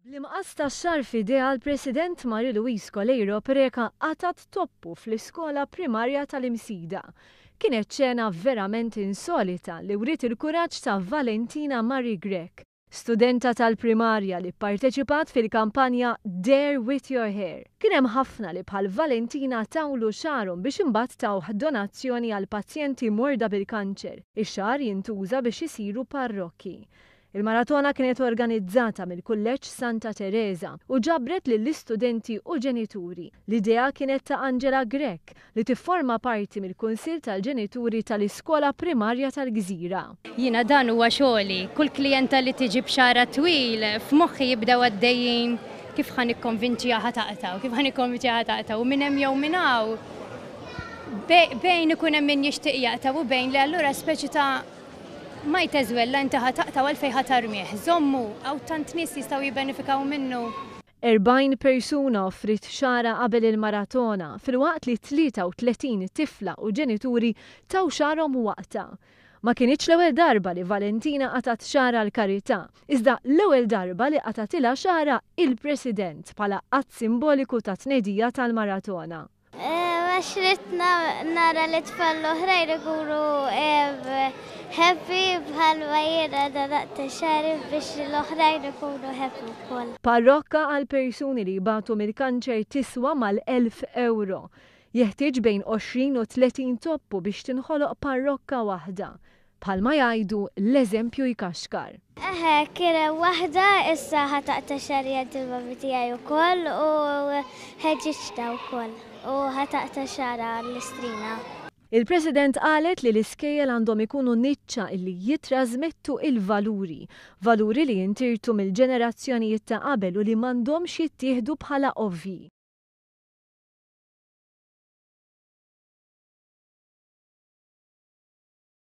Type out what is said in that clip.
Bl-imqas ta' xahar f'idejha l-President Marie Louise Coleiro Preca qatgħet toppu fl-iskola primarja tal-Imsida. Kienet xena verament insolita li wriet il-kuraġġ ta' Valentina Marie Grech, studenta tal-primarja li pparteċipat fil-kampanja Dare With Your Hair. Kien hemm ħafna li bħal Valentina tawlu xagħarhom biex imbagħad tawh donazzjoni għall-pazjenti morda bil-kanċer, ix-xagħar jintuża biex isiru parrokki. Il-maratona kienet organizzata mill-Kulleġġ Santa Tereża u ġabret lill-istudenti u ġenituri. L-idea kienet ta' Angela Grech, li tifforma parti mill-Kunsill tal-Ġenituri tal-Iskola Primarja tal-Gżira. Jiena dan huwa xogħli. Kull klijenta li tiġi b'xagħarha twil, f'moħħi jibdew għaddejjin kif ħa nikkonvinċiha ħa taqta' u kif ħa nikkonvinċiha ħa taqta' u minn hemm jew minn hawn bejn ikun hemm min jixtieq jaqta' u bejn le allura speċi ta' Mike Ezuella inti ħa taqta' u għalfejn ħa tarmih? Żommu, hawn tant nies jistgħu jibbenefikaw minnu. 40 persuna offriet xagħarha qabel il-maratona filwaqt li 33 tifla u ġenituri taw xagħarhom waqtha. Ma kinitx l-ewwel darba li Valentina qatgħet xagħar għall-karità, iżda l-ewwel darba li qatgħatilha xagħarha il-President bħala att simboliku ta' tnedija tal-maratona. Għax ridt nara lit-tfal l-oħrajn ikunu happy bħalma jiena nadaqt xagħri biex l-oħrajn ikunu happy wkoll. Parrokka għal persuni li jbatu mill-kanċer tiswa mal-elf ewro. Jeħtieġ bejn għoxrin u tletin toppu biex tinħoloq parrokka waħda. Bħalma jgħidu, l-eżempju jkaxkar. Eħe, kien hemm waħda issa ħa taqta' xagħriha l-ġilbabi tiegħi wkoll u ħeġġiġtha wkoll u ħa taqta' xagħarha l-istrina. Il-President qalet li l-iskejjel għandhom ikunu niċċa li jittrażmettu l-valuri, valuri li jintirtu mill-ġenerazzjonijiet ta' qabel u li m'għandhomx jittieħdu bħala ovvji.